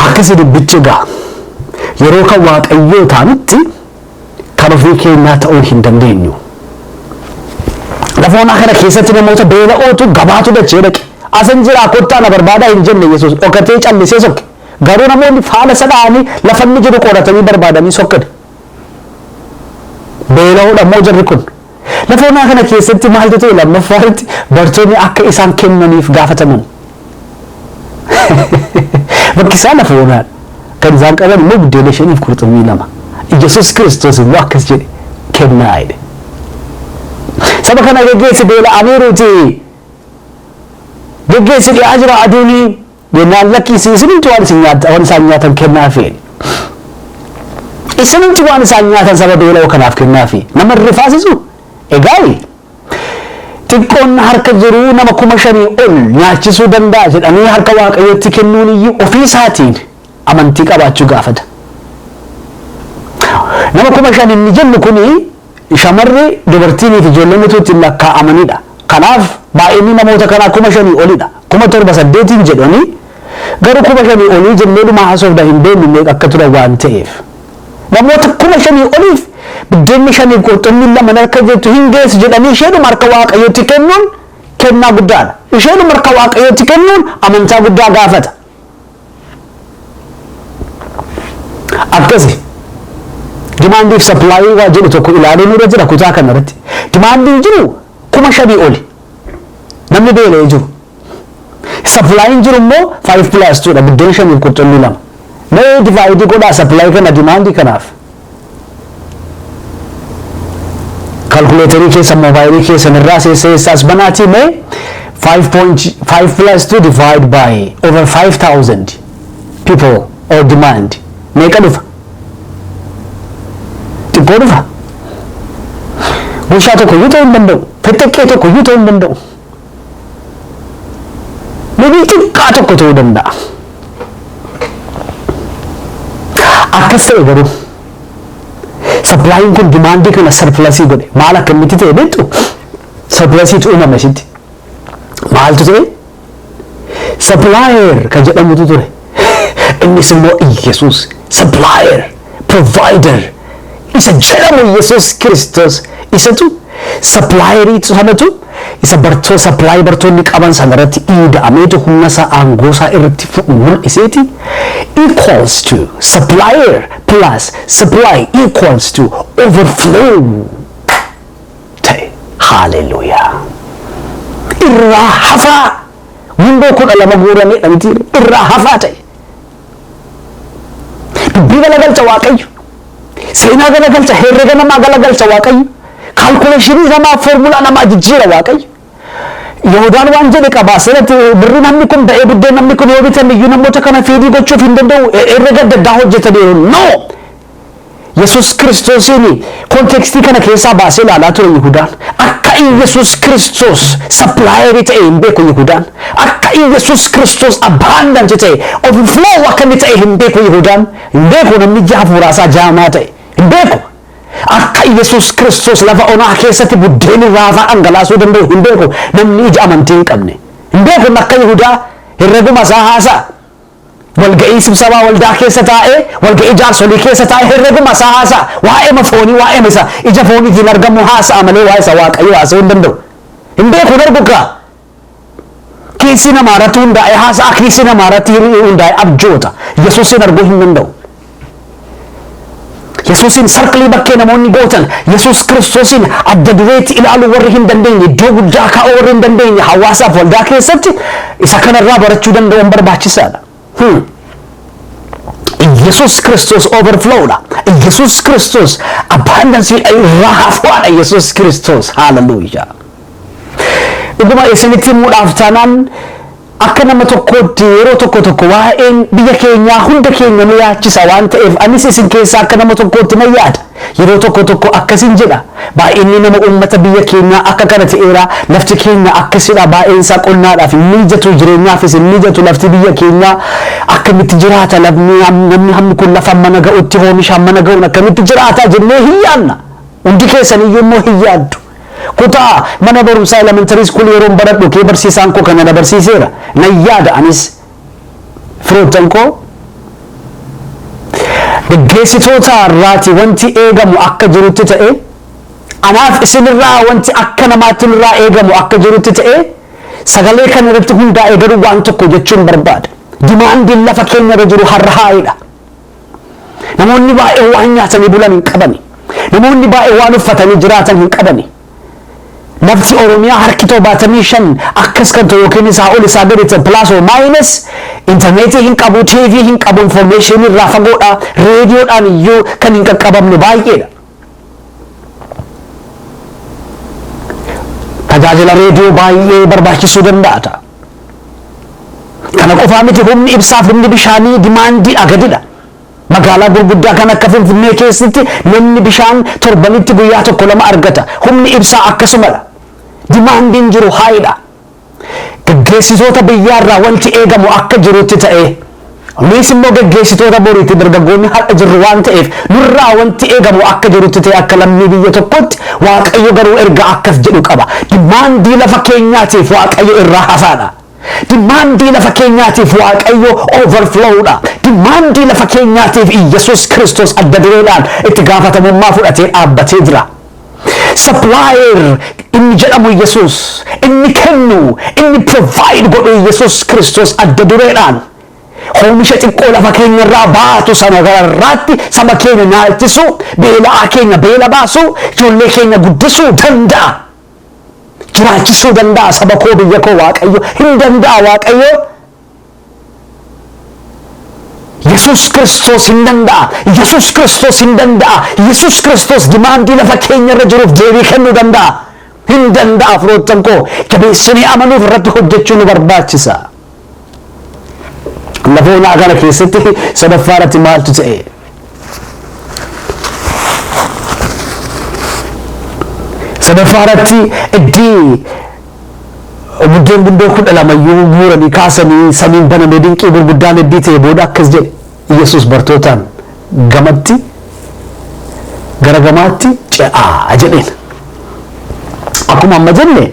Akkasi dubbichi egaa. Yeroo kan waaqayyoo taanutti kan ofii keenyaa ta'uu hin dandeenyu. Lafoonaa kana keessatti namoota beela'ootu gabaatu dachee dhaqe. Asin jiraa kottaa na barbaadaa hin jenne Yesuus dhokatee callisee sokke. Garuu namoonni faana isa dha'anii lafa inni jiru qoratanii barbaadanii sokkani. Beela'oodha immoo jarri kun. Lafoonaa kana keessatti maaltu ta'e lammaffaa irratti bartoonni akka isaan kennaniif gaafataman. Bakki isaa lafa onaa kan isaan qaban immoo buddeena shaniif qurxummii lama. Yesuus Kiristoos immoo akkas jedhe kennaa jedhe. Saba kana geggeessi beela'aniiruuti. Geggeessi dhi'aa jira aduunii. Jennaan lakkii isin isinumti waan isin nyaat- waan isaan nyaatan kennaafi. Isinumti waan isaan nyaatan saba beela'oo kanaaf kennaafi. Nama hin rifaasisu? Egaayi. Xiqqoon harka jiru nama kuma shanii ol nyaachisuu danda'a jedhanii harka Waaqayyootti kennuun iyyuu ofii isaatiin amantii qabaachuu gaafata. Nama kuma shan inni jennu kuni Shamarri, dubartiinii fi ijoolleen utuu itti hin lakkaa'amani dha. Kanaaf, baay'inni namoota kanaa kuma shanii oli dha. Kuma torba saddeetiin jedhu ani, garuu kuma shanii olii jennee dhuma haasofna hin beeknu meeqa akka turan waan ta'eef. Namoota kuma shanii oliif biddeenni shanii fi qurxummiin lama na harka jirtu hin geessu jedhanii isheedhuma harka Waaqayyootti kennuun kennaa guddaa dha. Isheedhuma harka Waaqayyootti kennuun amantaa guddaa gaafata. akkasi dimaandiif sappilaayii waa jedhu tokko ilaaluun irra jira kutaa kana irratti dimaandiin jiru kuma shanii oli namni beela'ee jiru sapilaayiin jiru immoo faayiv pilaas tuudha buddeen shaniif qurxummii lama mee divaayidii godhaa sappilaayii kana dimaandii kanaaf Calculator keessa mobile keessan irraa seessa eessa as banaatii mee 5.5 plus 2 divide by over 5000 people or demand meeqa dhufa? Xiqqoo dhufa? Goshaa tokko iyyuu ta'uu hin danda'u. Fixxiqqee tokko iyyuu ta'uu hin danda'u. Deebii xiqqaa tokko ta'uu danda'a. Akkas ta'e garuu sapilaayiin kun dimaandii kana sarpilasii godhe maal akkamitti ta'e beektu sarpilasiitu uumame sitti maaltu ta'e sapilaayeer kan jedhamutu ture Innis immoo Iyyasuus supplier, provider isa jedhamu Iyyasuus Kiristoos isatu supplierii sanatu isa bartoo supply bartoonni qaban sana irratti iida'ameetu humna isaa aangoo isaa irratti fudhu mul'iseeti equals to supplier plus supply equals to overflow ta'e. Hallelujah. Irraa hafaa. Gundoo kudha lama guurameedha mitii irraa hafaa ta'e. Dubbii galagalcha waaqayyo. Seenaa galagalcha herrega namaa galagalcha waaqayyo. Kaalkuleeshinii namaa foormulaa namaa jijjiira waaqayyo. Yihudaan waan jedhe qaba asirratti birri namni kun ba'ee buddeen namni kun yoo bitan iyyuu namoota kana feedii gochuuf hin danda'u herrega adda addaa hojjetaniiru. No! Yesuus Kiristoosiin kontekstii kana keessaa baasee ilaalaa ture Yihudaan. Akka Iyyasuus Kiristoos sapilaayerii ta'e hin beeku Yihudaan. Akka Iyyasuus Kiristoos abbaandanti ta'e overflow akka inni ta'e hin beeku Yihudaan. Hin beeku namni ija hafuuraa isaa jaamaa ta'e. Hin beeku. Akka Iyyasuus Kiristoos lafa onaa keessatti buddeen irraa hafaa dhangalaasuu danda'u hin beeku namni ija amantii hin qabne. Hin beeku akka Yihudaa herreguma isaa haasa'a. Walga'ii sibsabaa waldaa keessa taa'ee, walga'ii jaarsolii keessa taa'ee herreguma isaa haasa'a. Waa'eema foonii, waa'eema isa ija fooniitiin argamu haasa'a malee waa'ee isa Waaqayyoo haasa'uu hin danda'u. Hin beeku, hin argu kaa! Kiisii namaa irratti hundaa'ee haasa'a, kiisii namaa irratti hundaa'ee abjoota. Yesuusiin arguu hin danda'u. Yesuusiin sarkilii bakkee namoonni gootan Yesuus Kiristoosiin adda dureetti ilaaluu warri hin dandeenye iddoo guddaa kaa'uu warri hin dandeenye hawaasaaf waldaa keessatti isa kanarraa barachuu danda'uun barbaachisaadha. Hmm. Yesuus Kiristoos overflowdha. Yesuus Kiristoos abbaandansiidha irraa hafuudhaadha Yesuus Kiristoos haalaluyyaa. Dhuguma isinitti himuudhaaf taanaan Akka nama tokkootti yeroo tokko tokko waa'een biyya keenyaa hunda keenya nu yaachisa waan ta'eef anis isin keessaa akka nama tokkootti nan yaada. Yeroo tokko tokko akkasin jedha, baay'inni nama uummata biyya keenyaa akka kana ta'eera, lafti keenya akkasidha, baay'een isaa qonnaadhaaf hin mijatu, jireenyaafis hin mijatu, lafti biyya keenyaa akkamitti jiraata, namni hammi kun lafa hammana ga'utti, hoomisha hammana ga'uun akkamitti jiraata jennee hin yaadna. Hundi keessaniyyuu immoo hin yaaddu. Kutaa mana barumsaa elementary school yeroon baradhu kee barsiisaan koo kana na barsiiseera. Nan yaada anis firoottan koo geggeessitoota irraati wanti eegamu akka jirutti ta'e anaaf isinirraa wanti akka namaatti nurraa eegamu akka jirutti ta'e sagalee kana irratti hundaa'ee garuu waan tokko jechuun barbaada. Dimaandiin lafa keenya irra jiru har'a haa'idha. Namoonni baay'een waan nyaatanii bulan hin qabani. Namoonni baay'een waan uffatanii jiraatan hin qabani. Lafti Oromiyaa harki torbaatamii shan akkas kan ta'u yookiin isaa ol isaa gadi ta'e pilaas oo maayinas intarneetii hin qabu, TV hin qabu, infoormeeshinii irraa fagoodha, reediyoodhaan iyyuu kan hin qaqqabamne baay'eedha. Tajaajila reediyoo baay'ee barbaachisuu danda'a ta'a. Kana qofaa miti humni ibsaaf humni bishaanii dimaandii agadidha. Magaalaa gurguddaa kan akka Finfinnee keessatti namni bishaan torbanitti guyyaa tokko lama argata. Humni ibsaa akkasumadha. Dimaandiin jiru haayidha. Geggeessitoota biyyaarraa wanti eegamu akka jirutti ta'ee, nuis immoo geggeessitoota boriiti, dargaggoonni har'a jirru waan ta'eef, nurraa wanti eegamu akka jirutti ta'ee akka lammii biyya tokkootti, Waaqayyo garuu ergaa akkas jedhu qaba, Dimaandii lafa keenyaatiif Waaqayyo irraa hafaadha. Dimaandii lafa keenyaatiif Waaqayyo overflow dha. Dimaandii lafa keenyaatiif Iyyasuus Kiristoos adda dureedhaan itti gaafatamummaa fudhatee dhaabbatee jira. Supplier inni jedhamu Yesuus, inni kennu, inni provide godhu Yesuus Kiristoos adda dureedhaan hoomisha xiqqoo lafa keenya irraa baatu sana gararraatti saba keenya naalchisuu, beela'aa keenya beela baasuu, ijoollee keenya guddisuu danda'a. Jiraachisuu danda'a saba koo biyya koo Waaqayyo hin danda'a Waaqayyo. Yesuus Kiristoos hin danda'a. Yesuus Kiristoos hin danda'a. Yesuus Kiristoos dimaandii lafa keenya irra jiruuf deebii kennuu danda'a. Hin danda'a firoottan koo jabeessinee amanuuf irratti hojjechuu nu barbaachisa. Lafa onaa kana keessatti sadaffaa irratti maaltu ta'e? Sadaffaa irratti iddii Buddeen gundoo kudha lama iyyuu guuranii kaasanii samiin banamee dinqii gurguddaan eddii ta'e booda akkas jedhe Yesus bartootaan gamatti gara gamaatti ce'aa jedheen. Akkuma amma jenne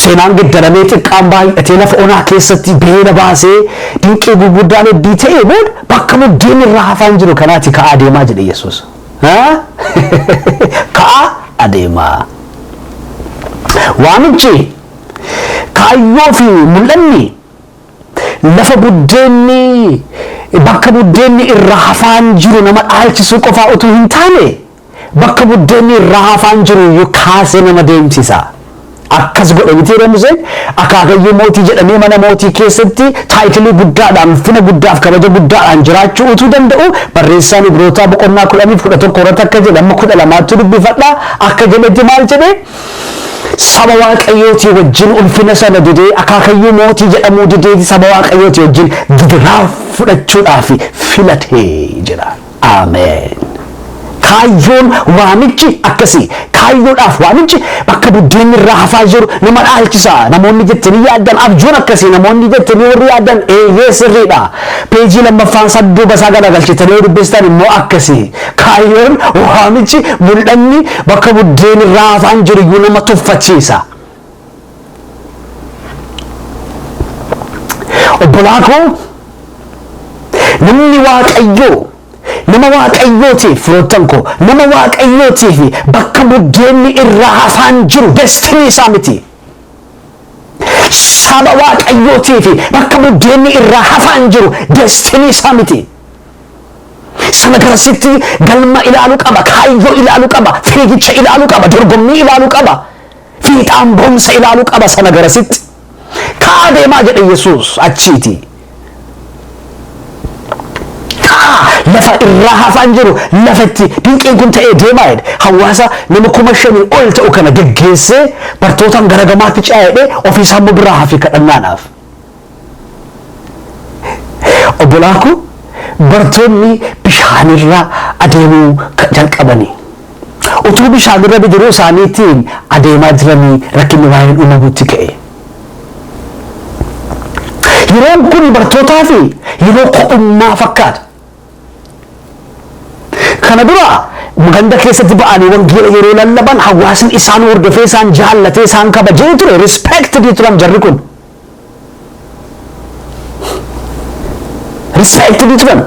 seenaan geddaramee xiqqaan baay'atee lafa onaa keessatti beela baasee dinqii gurguddaan eddii ta'e booda bakka buddeen irraa hafaan jiru kanaati ka'aa deemaa jedhe Yesus. Haa? Ka'aa adeemaa. Waamichi, kaayyoo fi mul'anni lafa buddeenni bakka buddeenni irraa hafaan jiru nama dhaalchisuu qofaa utuu hin taane bakka buddeenni irraa hafaan jiru iyyuu kaasee nama deemsisa. Akkas godhe mitiiree Museen? Akaakayyuu mootii jedhamee mana mootii keessatti taayitilii guddaadhaan, ulfina guddaa fi kabaja guddaadhaan jiraachuu utuu danda'uu, barreessaan Ibrootaa boqonnaa 10 fi 11 irratti akka jedhe, amma 12 ttu dubbifadha, akka jedhetti maal jedhe? Saba Waaqayyootii wajjin ulfina sana didee, akaakayyuu mootii jedhamuu didee, saba Waaqayyootii wajjin gidiraa fudhachuudhaaf filate jedha. Ameen! Kaayyoon waamichi akkasii. Kaayyoodhaaf waamichi bakka buddeenni irraa hafaa jiru nama dhaalchisa. Namoonni jettanii yaaddan abjuun akkasii namoonni jettanii warri yaaddan eeyyee sirriidha. Peejii lammaffaan isaa duuba isaa galagalchitanii yoo dubbistan immoo akkasii. Kaayyoon waamichi mul'anni bakka buddeenni irraa hafaan jiru iyyuu nama tuffachiisa. Obbolaa koo namni waaqayyoo nama waaqayyootii firoottan koo nama waaqayyootii fi bakka buddeenni irraa hafaan jiru destinii isaa miti. Saba waaqayyootii fi bakka buddeenni irraa hafaan jiru destinii isaa miti. Sana garasitti galma ilaalu qaba, kaayyoo ilaalu qaba, fiigicha ilaalu qaba, dorgommii ilaalu qaba. Fiixaan ba'umsa ilaalu qaba sana garasitti ka'aa deemaa jedhe Yesuus achiiti. Ka'aa lafa irraa hafaan jiru lafa itti dinqiin kun ta'ee deemaa jedhe hawaasa nama kuma shanii ol ta'u kana geggeessee bartootaan gara gamaatti ce'aa jedhee ofiisaa immoo biraa hafi kadhannaadhaaf. Obbolaa koo bartoonni bishaanirra adeemuu jalqabani. Utuu bishaanirra bidiruu isaaniitiin adeemaa jiranii rakkinni baay'een uumamuutti ka'e. Yeroon kun bartootaaf yeroo ko'ummaa fakkaata. Kana dura ganda keessatti ba'anii wangeela yeroo lallaban hawaasni isaan hordofee isaan jaallatee isaan kabajee ture respected turan jarri kun. Respected turan.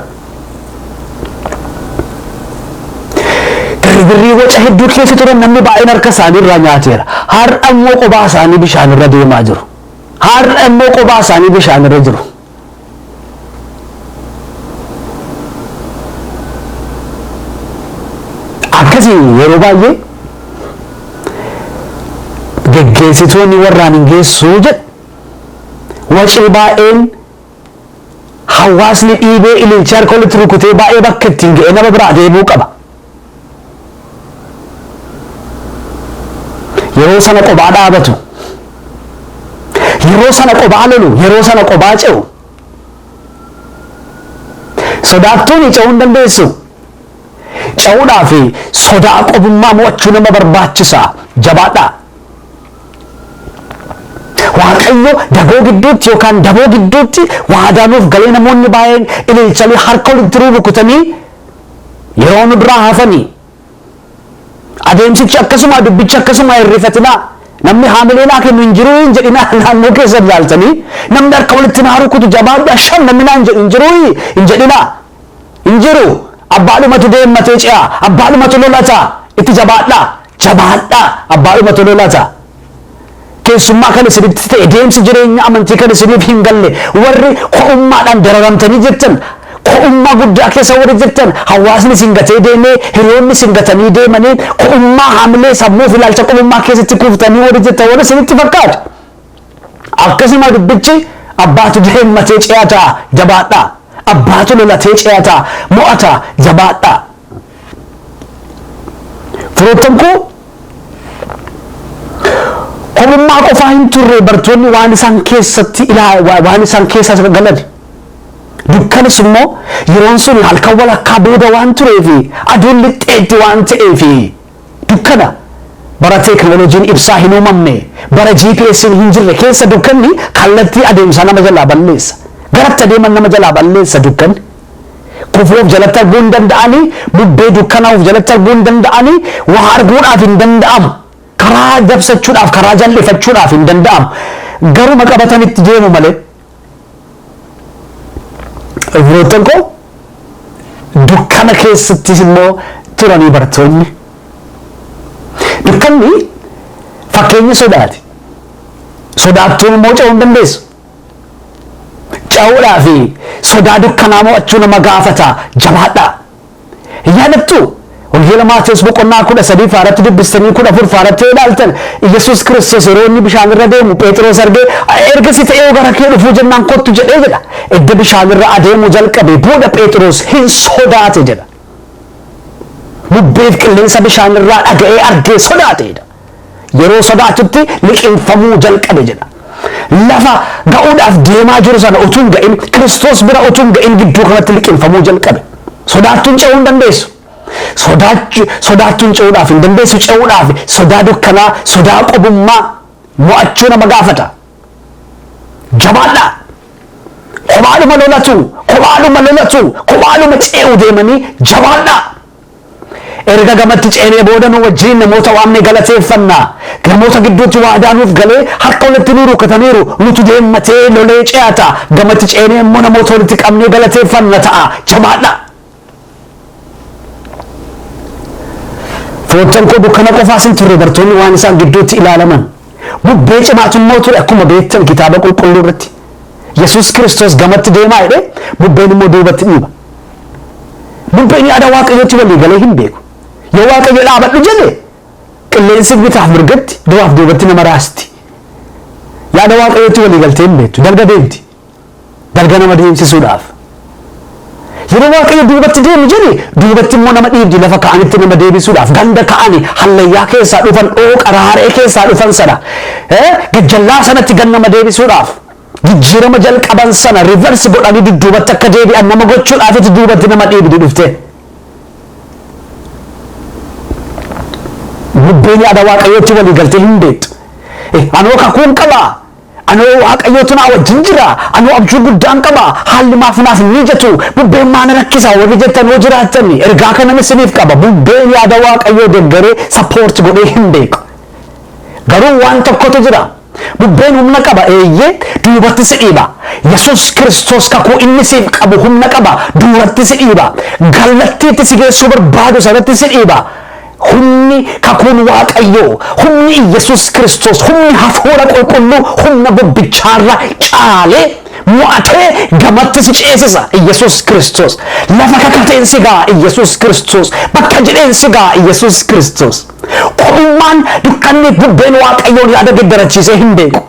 Girgirrii waca hedduu keessa turan namni baay'een harka isaanii irraa nyaateera. Har'a immoo qophaa isaanii bishaan irra deemaa jiru. Har'a immoo qophaa isaanii bishaan irra jiru. Akkasiin yeroo baay'ee geggeessitoonni warraan hin geessuu jedhu wacee baay'een hawaasni dhiibee ililchee harka walitti rukutee baay'ee bakka ittiin ga'e nama biraa deebi'uu qaba. Yeroo sana qobaa dhaabatu. Yeroo sana qobaa lolu. Yeroo sana qobaa ce'u. Sodaattuun ce'uu hin dandeessu. Ce'uudhaa fi sodaa qobummaa mo'achuu nama barbaachisa. Jabaadhaa. Waaqayyo dagoo gidduutti yookaan daboo gidduutti waadaa nuuf galee namoonni baay'een ililchanii harka walitti rukutanii Yeroo nu duraa hafani. Adeemsichi akkasumaa dubbichi akkasumaa hin rifatinaa. Namni haamilee naa kennu hin jiruu hin jedhinaa naannoo keessan ilaaltanii namni harka walitti naa rukutu jabaadhu asham namni naan jedhu hin jiruu hin jedhinaa. Hin jiru abbaadhumatu deemmatee ce'a abbaadhumatu lolata itti jabaadhaa jabaadhaa abbaadhumatu lolata. Keessummaa kan isinitti ta'e deemsi jireenya amantii kan isiniif hin galle warri ko'ummaadhaan dararamtanii jirtan ko'ummaa guddaa keessa warri jirtan hawaasni isin gatee deemee hiriyoonni isin gatanii deemanii ko'ummaa haamilee sammuu fi ilaalcha qubummaa keessatti kuuftanii warri jirtan warri isinitti fakkaatu. Akkasuma dubbichi abbaatu deemmatee ce'ataa jabaadhaa. Abbaatu lolatee ce'ataa mo'ataa jabaadhaa. Firoottan koo kopummaa qofaa hin turre bartoonni waan isaan keessatti ilaa- wa- waan isaan keessa galan dukkanis immoo yeroon sun halkan walakkaa booda waan tureefi aduun lixxeetti waan ta'eefi Dukkana, Bara teeknooloojiin ibsaa hin uumamne, bara GPS'n hin jirre keessa dukkanni kallattii adeemsaa nama jalaa balleessa. Garatti adeeman nama jalaa balleessa dukkanni. Kufuu of jalatti arguu hin danda'ani, bubbee dukkanaa of jalatti arguu hin danda'ani, waa arguudhaaf hin danda'amu. Karaa dabsachuudhaaf, karaa jal'ifachuudhaaf hin danda'amu. Garuma qabatanitti deemu malee. Firoottan koo dukkana keessattis immoo turanii bartoonni. Dukkanni fakkeenya sodaati. Sodaattuun immoo ce'uu hin dandeessu. Ce'uudhaa fi sodaa dukkanaa mo'achuu nama gaafata jabaadhaa. Hin yaadattu? Wangeela Maatewos boqonnaa kudha sadii faaratti dubbistanii kudha afur faaratti yoo ilaaltan Yesuus Kiristoos yeroo inni bishaan irra deemu Pheexiroos argee ergasi ta'ee gara kee dhufuu jennaan kottu jedhee jedha. Edda bishaan irra adeemu jalqabe booda Pheexiroos hin sodaate jedha. Bubbeef qilleensa bishaan irraa dhaga'ee argee sodaate jedha. Yeroo sodaatutti liqimfamuu jalqabe jedha. Lafa ga'uudhaaf deemaa jiru sana utuu hin ga'in, Kiristoos bira utuu hin ga'in gidduu kanatti liqimfamuu jalqabe. Sodaattuun ce'uu hin dandeessu. Sodaachu- Sodaattuun ce'uudhaaf hin dandeessu. Ce'uudhaaf sodaa dukkanaa, sodaa qobummaa mo'achuu nama gaafata. Jabaadhaa! Kophaadhuma lolatu, kophaadhuma lolatu, kophaadhuma ce'uu deemanii jabaadhaa! Erga gamatti ceenee booda nu wajjin namoota waamne galateeffanna. Namoota gidduutti waadaa nuuf galee harka walitti nu rukutaniiru, nutu deemmatee lolee ce'a ta'a. Gamatti ceenee immoo namoota walitti qabnee galateeffanna ta'a. Jabaadhaa! Foottan koo dukkana qofaas hin turre bartoonni waan isaan gidduutti ilaalaman. Bubbee cimaatu immoo ture akkuma beektan kitaaba qulqulluu irratti. Yesuus Kiristoos gamatti deemaa jedhee bubbeen immoo duubatti dhiiba. Bubbeen yaada Waaqayyootti walii galee hin beeku. Yoo Waaqayyo dhaabadhu jedhe qilleensi bitaaf mirgatti duraaf duubatti nama raasti. Yaada Waaqayyootti walii galtee hin beektu. Dalga deemti. Dalga nama deemsisuudhaaf. Yeroo Waaqayyo duubatti deemi jedhe duubatti immoo nama dhiibdi lafa ka'anitti nama deebisuudhaaf ganda ka'ani hallayyaa keessaa dhufan dhooqa raaree keessaa dhufan sana gajjallaa sanatti gan nama deebisuudhaaf. Jijjiirama jalqaban sana reverse godhanii dudduubatti akka deebi'an nama gochuudhaafiti duubatti nama dhiibdi dhuftee. Bubbeen yaada Waaqayyootti walii galtee hin beektu. Anoo kakuun qabaa, anoo Waaqayyootu naa wajjin jira, anoo abjuu guddaan qaba, haalli maaf naaf hin mijatu, bubbeen maa na rakkisa warri jettan yoo jiraattan ergaa kanan isiniif qaba. Bubbeen yaada Waaqayyoo deggaree support godhee hin beeku. Garuu waan tokkotu jira. Bubbeen humna qaba, eeyyee, duubatti si dhiiba. Yesuus Kiristoos kakuu inni siif qabu humna qaba, duuratti si dhiiba. Kallattii itti si geessuu barbaadu sanatti si dhiiba. Humni kakuun Waaqayyoo, humni Iyyasuus Kiristoos, humni hafuura qulqulluu humna bubbichaarra caalee mo'atee gamatti si ceesisa Iyyasuus Kiristoos. Lafa kakateen si ga'a Iyyasuus Kiristoos. Bakka jedheen si ga'a Iyyasuus Kiristoos. Kophummaan, dukkanniif bubbeen Waaqayyoon yaada geddarachiisee hin beeku.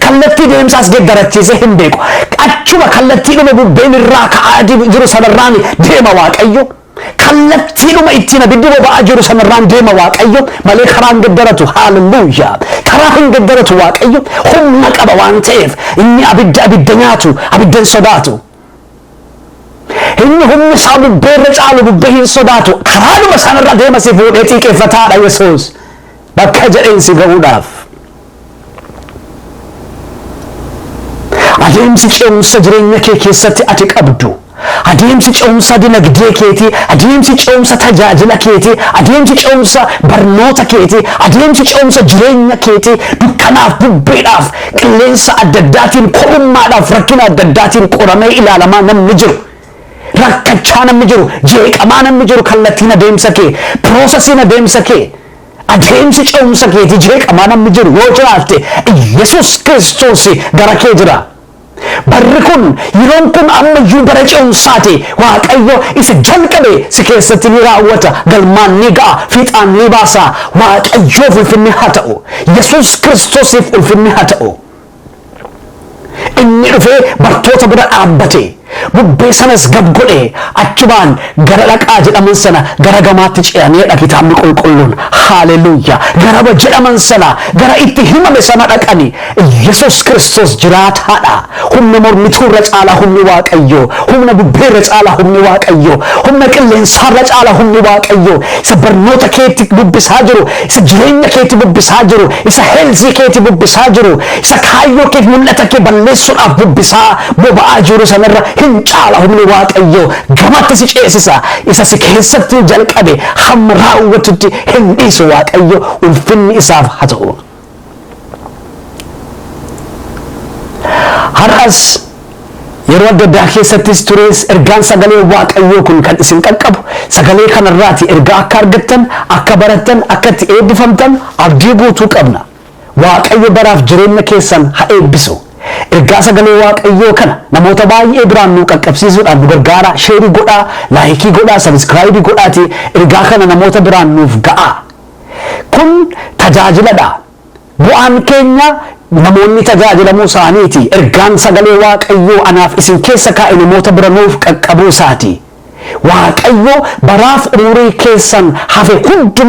Kallattii deemsaas geddarachiisee hin beeku. Achuma kallattiidhuma bubbeen irraa ka'aa jiru sanarraan deema Waaqayyo. Kallattiidhuma ittiin abiddi boba'aa jiru sanarraan deema Waaqayyo malee karaa hin geddaratu. Haalelluuyaa! Karaa hin geddaratu Waaqayyo humna qaba waan ta'eef inni abidda abidda nyaatu, abidda hin sodaatu. Inni humni isaa bubbee irra caalu bubbee hin sodaatu karaadhuma sana irra deema si fuudhee xiiqeffataadha Yesuus bakka jedheen si ga'uudhaaf. Adeemsi ce'umsa jireenya kee keessatti ati qabdu adeemsi ce'umsa dinagdee keetii adeemsi ce'umsa tajaajila keetii adeemsi ce'umsa barnoota keetii adeemsi ce'umsa jireenya keetii dukkanaaf bubbeedhaaf Qilleensa adda addaatiin, kophummaadhaaf, rakkina adda addaatiin qoramee ilaalamaa namni jiru, rakkachaa namni jiru, jeeqamaa namni jiru kallattiin adeemsa kee, process in adeemsa kee, adeemsi ce'umsa keetii jeeqamaa namni jiru yoo jiraatte Iyyasuus Kiristoos gara kee jira. Barri kun, yeroon kun amma iyyuu bara ce'umsaati. Waaqayyo isa jalqabe si keessatti ni raawwata, galmaan ni ga'a, fiixaan ni baasa. Waaqayyoof ulfinni haa ta'u! Yesuus Kiristoosiif ulfinni haa ta'u! Inni dhufee bartoota bira dhaabbate, bubbee sanas gab godhe, achumaan gara dhaqaa jedhaman sana gara gamaatti ce'aniidha kitaabni qulqulluun. Haaleluyyaa! Garaba jedhaman sana, gara itti himame sana dhaqani. Yesuus Kiristoos jiraataadha! Humna mormituu irra caalaa humni Waaqayyoo, humna bubbee irra caalaa humni Waaqayyoo, humna qilleensaa irra caalaa humni Waaqayyoo isa barnoota keetti bubbisaa jiru, isa jireenya keetti bubbisaa jiru, isa heelzii keetti bubbisaa jiru, isa kaayyoo keef mul'ata kee balleessuudhaaf bubbisaa boba'aa jiru sanarra hin caala humni Waaqayyoo gamatti si ceesisa isa si keessatti jalqabe hamma raawwatutti hin dhiisu Waaqayyo ulfinni isaaf haa ta'u. Har'as yeroo adda addaa keessattis turees ergaan sagalee Waaqayyoo kun kan isin qaqqabu sagalee kanarraati ergaa akka argattan, akka barattan, akka itti eebbifamtan abdii guutuu qabna. Waaqayyo baraaf jireenya keessan ha eebbisu. Ergaa sagalee Waaqayyoo kana namoota baay'ee biraan nuu qaqqabsiisuudhaan nu gargaaraa sheerii godhaa, laayikii godhaa, sabiskiraayibii godhaatii ergaa kana namoota biraan nuuf ga'aa. Kun tajaajila dha. Bu'aan keenya namoonni tajaajilamuu isaaniiti. Ergaan sagalee Waaqayyoo anaaf isin keessa kaa'e namoota bira nuuf qaqqabuu isaati. Waaqayyo baraaf umurii keessan hafe hunduma